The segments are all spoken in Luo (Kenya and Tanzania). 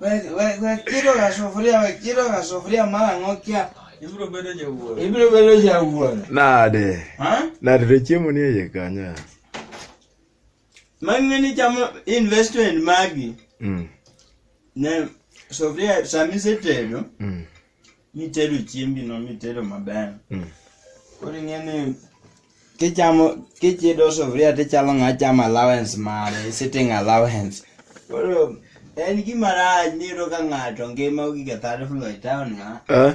Wekiro ga sufuria, wekiro ga sufuria mara ng'okia. Ibiro bedo jawuoro. Ibiro bedo jawuoro. Nade. Ha? Nade to chiemo ni eye kanyo. Mang'e ni chamo investment magi. Mm. Ne sufuria samisetedo. Mm. mitedo chiembi no mitedo maber Mm. koro ing'e ni kichamo kichido sufuria tichalo ng'a chamo allowance mare sitting allowance koro en gima rach niyudo ka ng'ato ngima ogige third floor e town ng'a Eh?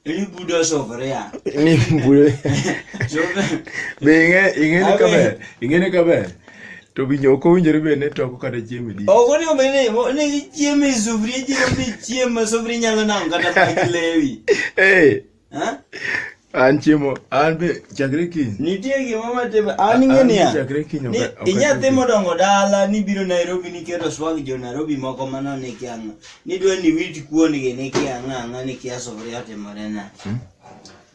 ibudo sufuria Ni mbule. Sufuria- Be ing'e ing'e ni kaber. Ing'e ni kaber. to winjo ok owinjore bed ni toko kata chiemo e dish. Ok onego obed ni onego ichiemo e sufria ijigo ni chiemo ma sufria inyalo nang'o kata pach lewi. Eh, Ha? an chiemo an be chakre kiny. Nitie gima matimo an ing'e An niya. chakre kiny ok- ni- ok Inyathi achiew. modongo dala nibiro Nairobi niketo swag jo Nairobi moko mano nikia ang'a. Nidwa ni wit kuondgi nikia ang'a ang'a nikia sufria otimore nade.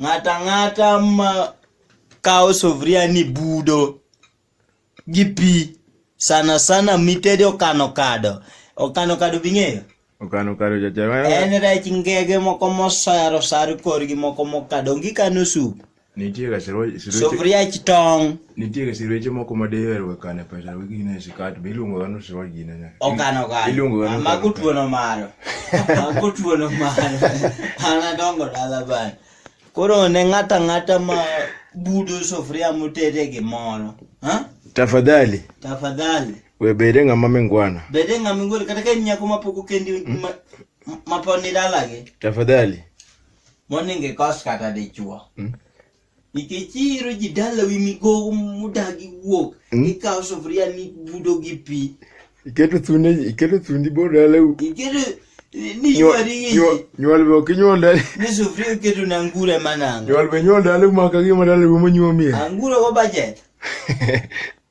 Ng'ata ng'ata ma kawo sufria ni budo gi pi sana sana mitede okano kado. Okano kado bing'eyo? Okano kado jajaro. En rech ngege moko mosaro sar korgi moko mokado. Ongi kano sup. Nitie ga siro. Sufria chitong'. Nitiere sireche moko ma diher we kane pesa we gine e sikat be iluongo ga nusu wa gine ne. Okano kano. Iluongo ga nusu. Ma kutuono maro. Ma kutuono maro. Ana dongo dala bana. Koro ne ng'ata ng'ata ma budo sufuria motede gimoro. Ha? Tafadhali. Tafadhali. We bede ng'ama mingwana. Bede ng'ama mingwana kata ka nyako ma poko kendi hmm? ma, ma poni dalagi. Tafadhali. Moningi kos kata dichuo. Hmm? nikech iiro ji dalawi migogo mudagi wuok Mm. ikawo sufuria nibudo gi pi Iketo thundi iketo thundi bor dalau. iketo ni Nyuol ywari gi nyuol- ji nyuol be ok inyuol dal. ni sufuria iketo na ngure manango Nyuol be nyuol dalau ma ka gima dalau monyuomie. anguro go bajet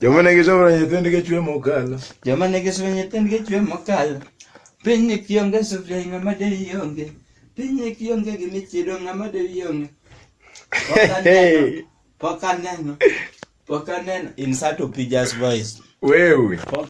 Joma ne gisomo nyithindgi chwe mokalo. Joma ne gisomo nyithindgi chwe mokalo. Piny ni kionge sufria ng'ama de ionge. Piny ni kionge gi michido ng'ama de ionge. Pok aneno. Pok aneno. Insert Opija's voice. Wewe.